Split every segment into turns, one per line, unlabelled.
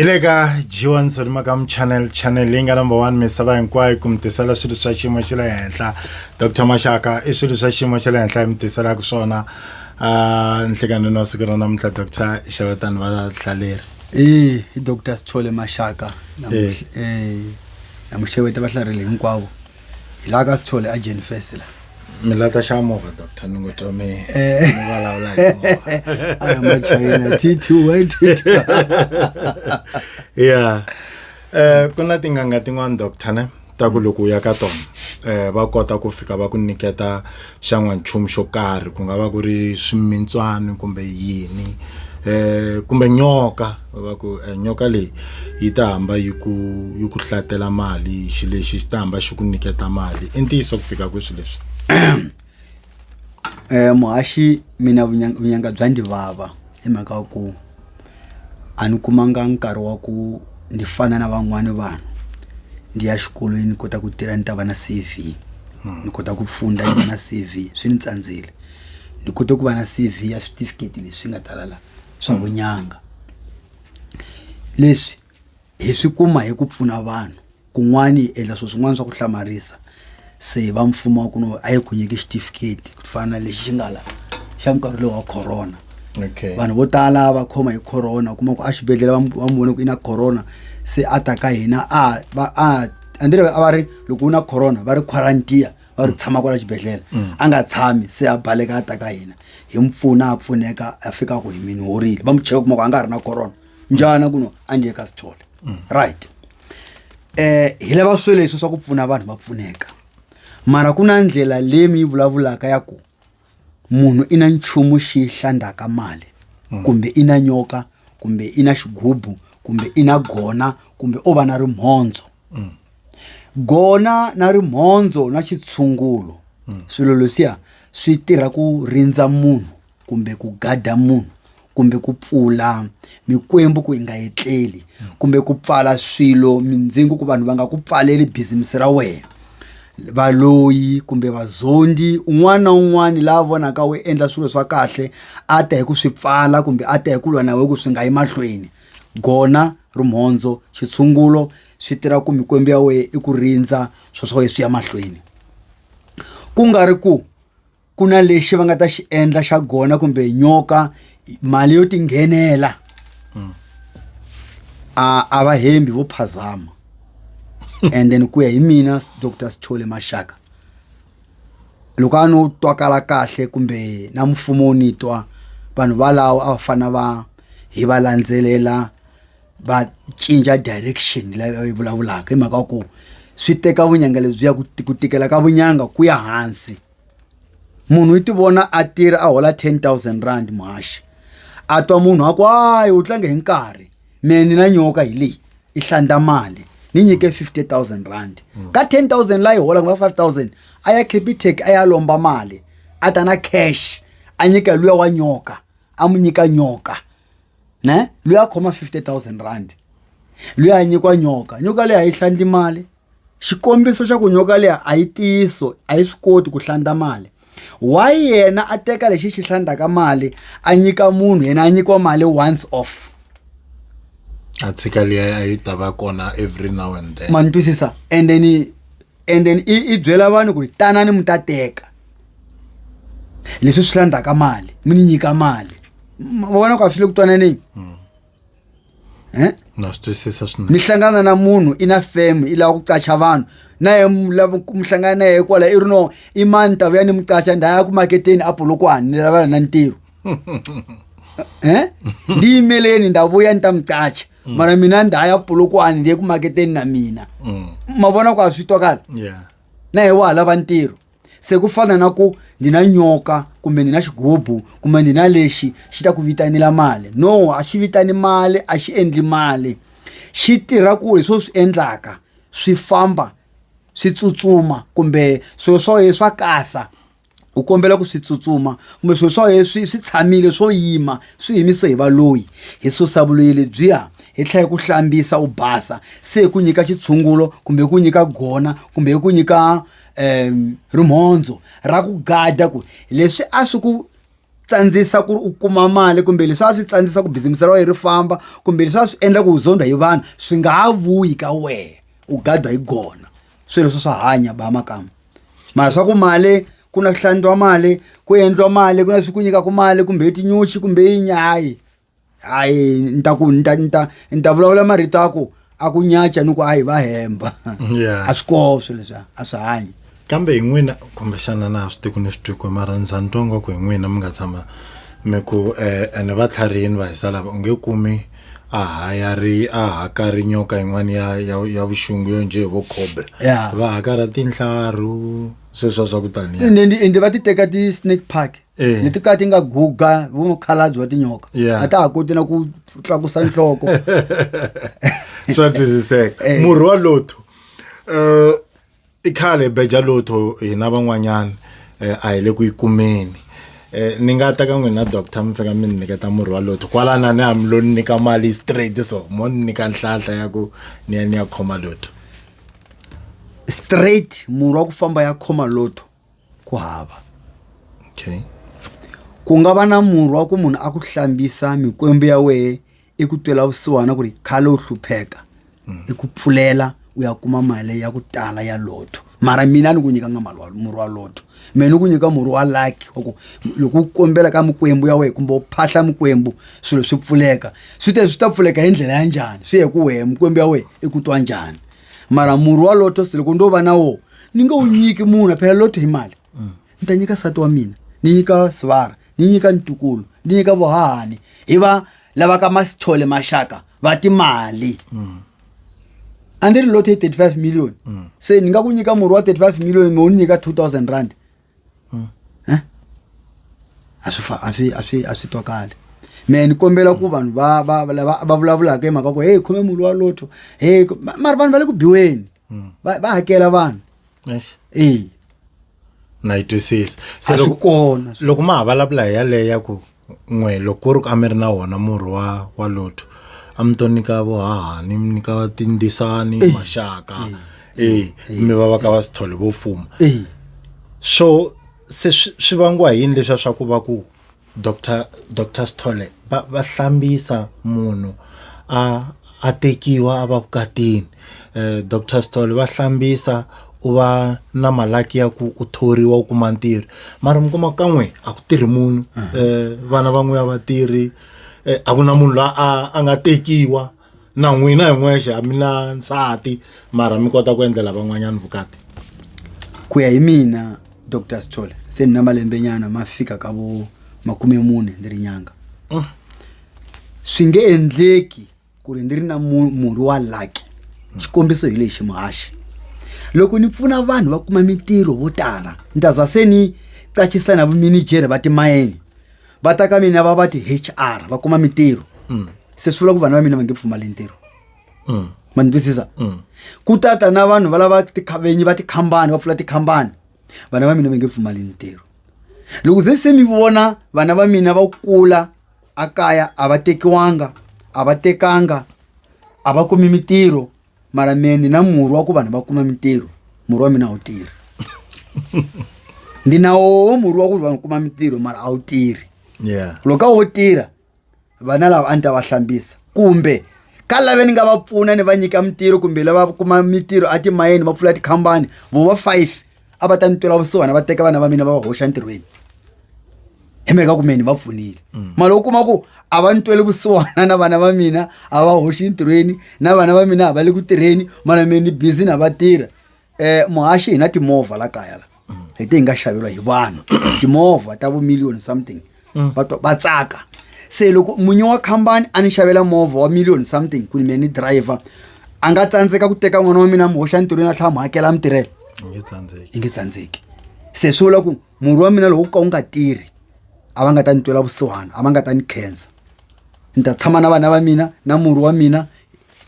hi le ka g1 solima ka muchannel channel leyi nga number one misava hinkwayo ku mi tisela swilo swa xiyimo xa le henhla dr maxaka i swilo swa xiyimo xa le henhla hi mi tiselaka swona uh, nhlekanini wa siku ra namuntlha dr xavetani vahlaleri e i dr sithole
maxaka namuxeveta vahlaleri hinkwavo hi laha ka sithole a jeni fesi la mi lata xa
movha doctor ni ngo twa mi eh. mi vulavula hi
movha machina t two y t two
ya um ku na tin'anga tin'wana doctor ne ta ku loko u ya ka tona um va kota ku fika va ku nyiketa xa n'wanchumu xo karhi ku nga va ku ri swimintswani kumbe yini eh kumbe nyoka va ku eh, nyoka leyi yi ta hamba yi ku yi ku hlatela mali xi lexi xi ta hamba xi ku nyiketa mali i ntiyiso ku fika kweswi leswi
um muhaxi mina vunyanga bya ndzi vava hi mhaka ku a ni kumanga nkarhi wa ku ni fana na van'wani vanhu ndi ya xikolweni ni kota ku tirha ni ta va na C_V ni kota ku pfunda ni va na C_V swi ni tsandzile ni kote ku va na C_V ya switifiketi leswi nga tala la swa vunyanga leswi. hi swi kuma hi ku pfuna vanhu kun'wani hi endla swilo swin'wana swa ku hlamarisa se va mfumo wa ku no a yi ku nyiki xitifiketi ku fana na lexi xi nga la xa nkarhi lowu wa corona okay vanhu vo
tala va
khoma hi corona kuma ku a xibedhlele va mu- va mu vone ku i na corona se a ta ka hina a va a andire a va ri loko u na corona va ri quarantiya va ri tshama kwala xibedhlele a nga tshami se a baleka a ta ka hina hi mu pfuna a pfuneka a fika ku hi mini horile va mu cheka kuma ku a nga ha ri na corona njhana ku no a ndzi ka sithole right eh hi lava swe leswi swa ku pfuna vanhu va pfuneka mara ku na ndlela leyi mi yi vulavulaka ya ku munhu i na nchumu xi hlandaka mali kumbe i na nyoka kumbe i na xigubu kumbe i na gona kumbe o va na rimhondzo gona na rimhondzo na xitshungulo swilo leswiya swi tirha ku rindza munhu kumbe ku gada munhu kumbe ku pfula mikwembu ku yi nga etleli kumbe ku pfala swilo mindzingo ku vanhu va nga ku pfaleli bizimisi ra wena valoyi kumbe vazondi un'wana na un'wana la vonaka u endla swilo swa kahle a ta hi ku swi pfala kumbe a ta hi ku lwa na we ku swi nga yi mahlweni gona rumhondzo xitshungulo swi tirha ku mikwembu ya wena i ku rindza swo swa wena swi ya mahlweni ku nga ri ku ku na lexi va nga ta xi endla xa gona kumbe nyoka mali yo tinghenela mm. a a va hembi vo phazama and then ku ya hi mina dr sithole maxaka loko a no twakala kahle kumbe na mfumo wu ni twa vanhu valawo a va fana va hi va landzelela va cinca direction leyo yi vulavulaka hi mhaka ku swi teka vunyanga lebyi ya ku tikela ka vunyanga ku ya hansi munhu i ti vona a tirha a hola ten thousand rand muhaxi a twa munhu a ku hayi u tlange hi nkarhi me ni na nyoka hi leyi i hlanda mali ni nyike fifty thousand rand ka ten thousand la yi hola kumbe five thousand a ya capitec a ya lomba mali a ta na cash a nyika luya wa nyoka a mu nyika nyoka ne luya a khoma fifty thousand rand luya a nyikiwa nyoka nyoka leyi a yi hlandi mali xikombiso xa ku nyoka liya a yi tiyiso a yi swi koti ku hlanda mali why yena a teka lexi xi hlandaka mali a nyika munhu yena a nyikiwa mali once off a tshika
liya a yi ta va kona every now and then ma ni twisisa and then
and then i i byela vanhu ku ri tanani mi ta teka leswi swi hlandaka mali mi ni nyika mali vona ku a swi le ku twananeni hmm. eh?
na swi twisisa swinene mi hlangana na munhu
i na fam i lava ku qacha vanhu na ye lava mi hlangana na ye kwala i ri no i mani ta vuya ni mi qacha nda ya ku maketeni a polokwani ni lavana na ntirho eh? ndi yimeleni nda vuya ni ta mi qacha mm. mara mina nda ya polokwani ndi ye ku maketeni na mina mm. ma vona ku a swi twakala na ye wa ha lava ntirho se ku fana na ku ndzi na nyoka kumbe ndzi na xigubu kumbe ndzi na lexi xi ta ku vitanela mali no a xi vitani mali a xi endli mali xi tirha ku hi swo swi endlaka swi famba swi tsutsuma kumbe swilo swa wena swa kasa u kombela ku swi tsutsuma kumbe swilo swa wena swi swi tshamile swo yima swi yimise hi valoyi hi susa vuloyi lebyiya hi tlhela ku hlambisa u basa se hi ku nyika xitshungulo kumbe hi ku nyika gona kumbe hi ku nyika um rimhondzo ra ku gada ku leswi a swi ku tsandzisa ku ri u kuma mali kumbe leswi a swi tsandzisa ku bizimisi ra wena ri famba kumbe leswi a swi endla ku u zondha hi vanhu swi nga ha vuyi ka wena u gadwa hi gona swi leswi swa hanya ba makamba mara swa ku mali ku na ku hlandiwa mali ku endliwa mali ku na swi ku nyikaka mali kumbe tinyuxi kumbe yi nyayi hayi ni ta ku ni ta ni ta ni ta vulavula marito a ku a ku nyacha ni ku a hi va hemba Yeah. a swi koho swilo leswiya a swi hanyi kambe hi n'wina
kumbexana na ha swi tiku ni swi twiko mara ni za ni twa ngwaku hi n'wina mi nga tshama mi ku um ene va tlharihini va hisa lava u nge kumi a hayari a hakari nyoka yin'wana ya ya ya vuxungu yo njhe hi vo cobra Yeah. va hakara tinhlaru sweswa swa ku taniya ende ende- ende va ti teka
ti-snake park Eh. leti ka ti nga guga vumukhalabyi wa tinyoka Yeah. a ta ha koti na ku tlakusa nhloko
swa twisiseka Eh. murhi wa lotho um i khale beja lotho hina van'wanyana um a hi le ku yi kumeni um ni nga ta ka n'wina doctor mi fika mi ni nyiketa murhi wa lotho kwalana ni hami lo ni nyika mali straight so mo ni nyika nhlahla ya ku ni ya ni ya khoma lotho straight
murhi wa ku famba ya khoma lotho ku hava okay ku nga va na murhi wa ku munhu a ku hlambisa mikwembu ya wehe i ku twela vusiwana ku ri khale u hlupheka i ku pfulela u ya kuma mali ya ku tala ya lotto mara mina ni ku nyikanga mali wa- murhi wa lotto mina ni ku nyika murhi wa lucky wa ku loko u kombela ka mikwembu ya wehe kumbe u phahla mikwembu swilo swi pfuleka swi te swi ta pfuleka hi ndlela ya njhani swi ye ku wehe mikwembu ya wehe i ku twa njhani mara murhi wa loto se loko ndo va na wo ni nge wu nyiki munhu phela loto hi mali ni ta nyika sati wa mina ni nyika sivara ni nyika ntukulu ni nyika vohahani hi va lava ka masithole maxaka va timali a ni ri loto yi 35 million se ni nga ku nyika murhi wa 35 million me u ni nyika 2000 rand Eh? a swi fa- a swi a swi a swi twakali me ni kombela ku vanhu va va va- lava va vulavulaka hi mhaka ku heyi khome mulu wa lotho heyi ku- ma- mara vanhu va le ku biweni va va hakela vanhu Eish, ee
na yi twisisa a se swi loko kona
loko ma
ha vulavula hi yaleyo ya ku n'we loko ku ri ku a mi ri na wona murhi wa wa lotto a mi to nyika vohahani mi nyika tindzisani maxaka eh mi va va ka va swi thole vo fuma eyi so se swi swi vangiwa hi yini leswa swa ku va ku doctor doctor Sithole va va hlambisa munhu a a tekiwa a va vukatini um dr stol va hlambisa u va na malaki ya ku u thoriwa u kuma ntirho mara mi kuma ka n'we a ku tirhi munhu um vana va n'we a va tirhi um a ku na munhu la a a nga tekiwa na n'wina hi n'wexe a mi na nsati mara mi kota ku endlela van'wanyana vukati
ku ya hi mina dr stol se ni na malembenyana ma fika ka vo makume mune ni ri nyanga swi nge endleki ku ri ni ri na murhi wa lucky xikombiso hi lexi muhaxi loko ni pfuna vanhu va kuma mintirho vo tala ni ta za se ni qachisa na vuminijere va timayini va ta ka mina va va ti-hr va kuma mintirho mm. se swi vula ku vana va mina va nge pfumali ntirho mm. ma ni twisisa mm. ku tata na vanhu va lava tikhavenyi va tikhambani va pfula tikhambani vana va mina va nge pfumali ntirho loko ze se mi vona vana va mina va kula a kaya a va tekiwanga a va tekanga a va kumi mintirho mara mehe ni na murhi wa ku vanhu va kuma mintirho murhi wa mina a wu tirhi ndi na woho murhi wa ku ri vanhu kuma mintirho mara a wu tirhi yeah loko a wo tirha vana lava a ni ta va hlambisa kumbe ka lave ni nga va pfuna ni va nyika mintirho kumbe lava kuma mintirho atimayeni va pfula tikhampani vo va five a va ta ni twela vusiwana va teka vana va mina va va hoxa ntirhweni hi mhaka ku meni va pfunile mm. mali u kuma ku a va ni tweli vusiwana na vana va mina a va hoxi ntirhweni na vana va mina a va le ku tirheni mara mina ni busy na va tirha um muhaxi hi na timovha la kaya la mm. hi te hi nga xaveriwa hi vanhu timovha ta vumiliyoni something mm. va twa va tsaka se loko munyi wa khampani a ni xavela movha wa million something ku ni mina ni driver a nga tsandzeka ku teka n'wana wa mina mi hoxa ntirhweni a tlhela mi hakela mi tirhela i nge tsandzeki se swi vula ku murhi wa mina loko ku ka wu nga tirhi a va nga ta ni twela vusiwana a va nga ta ni khensa ni ta tshama na vana va mina na murhi wa mina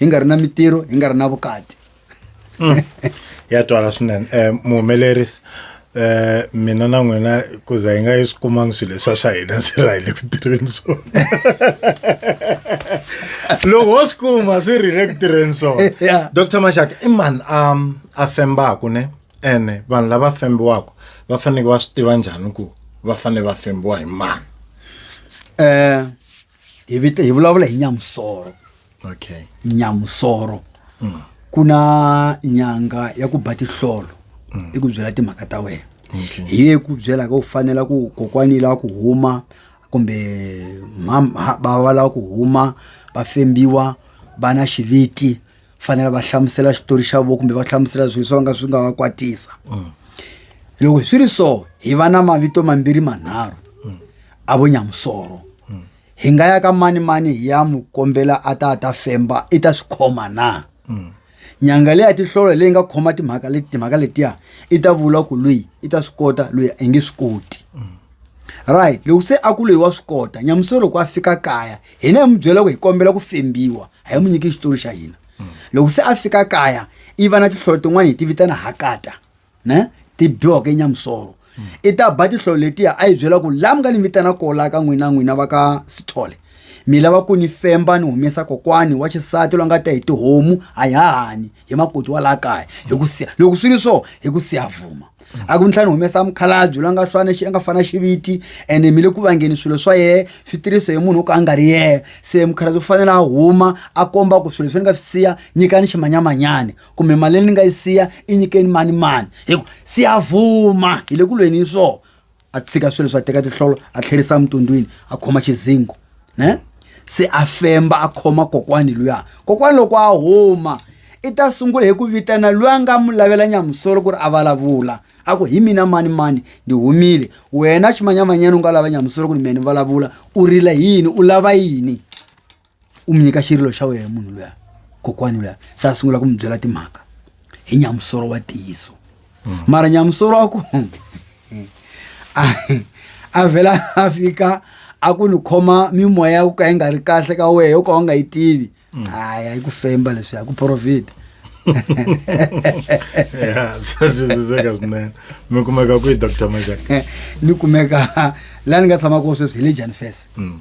hi nga ri na mitirho hi nga ri na vukati
ya twala swinene um muhumelerisi eh mina na n'wina ku za hi nga yi swi kumangi swilo leswa swa hina swi rhayile ku tirheni swona loko ho swi kuma swi rhile ku tirheni swona Yeah. dr maxaka i mani a a fembaku ne ene vanhu lava fembiwaka va faneke va swi tiva njhani ku va fanele va fembiwa hi mani eh
hi vita hi vulavula hi nyamusoro okay
nyamusoro
ku na nyanga ya ku ba tihlolo i ku byela timhaka ta wena Okay. hi ye ku
byela ka
u fanela ku kokwani lava ku huma kumbe mam- ha- bava lava ku huma va fembiwa va na xiviti fanela va hlamusela xitori xa vo kumbe va hlamusela swilo swo va nga swi nga va kwatisa loko swi ri so hi va na mavito mambirhi manharhu a vo nyamusoro hi nga ya ka mani mani hi ya mu kombela a ta ta femba i ta swi khoma na mm. nyanga leyi ya tihlolo leyi nga khoma timhaka leti timhaka letiya i ta vula ku loyi i ta swi kota loyi i nge swi koti mm. right loko se a ku loyi wa swi kota nyamuso loko a fika kaya hina hi mu byela ku hi kombela ku fembiwa a hi mu nyiki xitori xa hina mm. loko se a fika kaya i va na tihlolo tin'wana hi ti vitana hakata ne ti biwaka enyamusolo i ta ba tihlolo letiya a yi byela ku laha mi nga ni vitana ko laha ka n'wina n'wina va ka sithole mi lava ku ni femba ni humesa kokwani wa xisati loyi nga ta hi tihomu a hi hahani hi makoti wa laha kaya hi ku siya loko swi ri so hi ku siya vuma a ku ni tlhela ni humesa mukhalabye loyi a nga fana xi a nga fana xiviti ene mi le ku vangeni swilo swa yena swi tirhise hi munhu wo ka a nga ri yena se mukhalabye u fanele a huma a komba ku swilo leswi ni nga swi siya nyikani ximanyamanyani kumbe mali leyi ni nga yi siya i nyikeni mani mani hi ku siyavuma hi le ku lweni swo a tshika swilo swa teka tihlolo a tlherisa emutundwini a khoma xizingo ne se a femba a khoma kokwani luya kokwani loko a huma i ta sungula hi ku vitana loyi a nga mu lavela nyamusolo ku ri a vulavula a ku hi mina mani mani ndi humile wena ximanyamanyana u nga lava nyamusolo ku ri mina ni vulavula u rila yini u lava yini u mi nyika xirilo xa wena munhu luya kokwani luya se a sungula ku mi byela timhaka hi nyamusoro wa tiyiso mara nyamusoro wa ku a- a vhela a fika a ku ni khoma mimoya ya ku ka yi nga ri kahle ka wehe yo ka u nga yi tivi hayi a yi ku femba leswi a ku profita ya
swa twisiseka swinene mi kumeka kwihi dr majak ni kumeka
laha ni nga tshama kona sweswi hi le janifese Mm.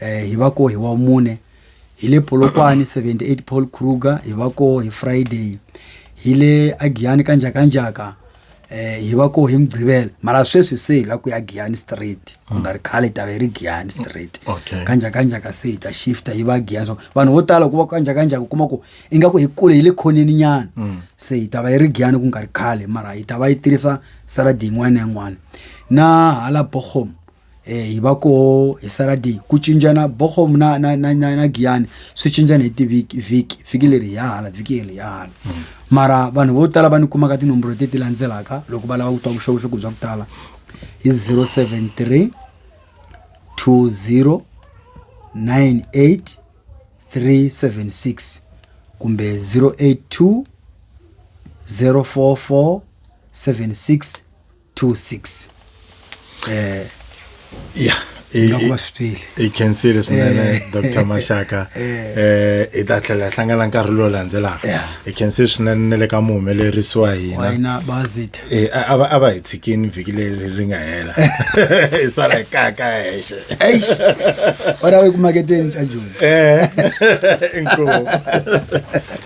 eh hi va ko hi wa mune hi le Polokwane 78 Paul Kruger hi va ko hi Friday hi le Agiyani ka njakanjaka eh hi va ko hi mugqivela mara sweswi se hi la ku ya Giyani Street ku nga ri khale hi ta ve ri Giyani Street Okay. ka njakanjaka se hi ta shifta yi va Giyani so vanhu vo tala ku va ka njakanjaka u kuma ku ingaku hi kule hi le khoneni nyana se hi ta va yi ri Giyani ku nga ri khale mara hi ta va yi tirhisa saradi yin'wana na yin'wana na hala Bochum eh hi va koho hi saradi ku cincana bokhom na na na na, na giyani swi cincana hi tivhiki vhiki vhiki leri hi ya hala vhiki leri hi ya hala mara vanhu vo tala va ni kumaka tinomboro teti landzelaka loko va lava ku twa vuxokoxoko bya ku tala hi 073 20 98 376 kumbe 082 044 76
26 eh yeah nga ku va swi twile hi khensile swinene eh. dr maxaka um eh. eh, hi ta tlhela hi hlangana nkarhi lowu landzelaka hi khensile swinene ne le ka muhumelerisi wa hina a
va hi
tshikini vhiki leri ri nga hela hi sala hi kaka hexe
wena wu yi kumaketeni ca joni
inkomu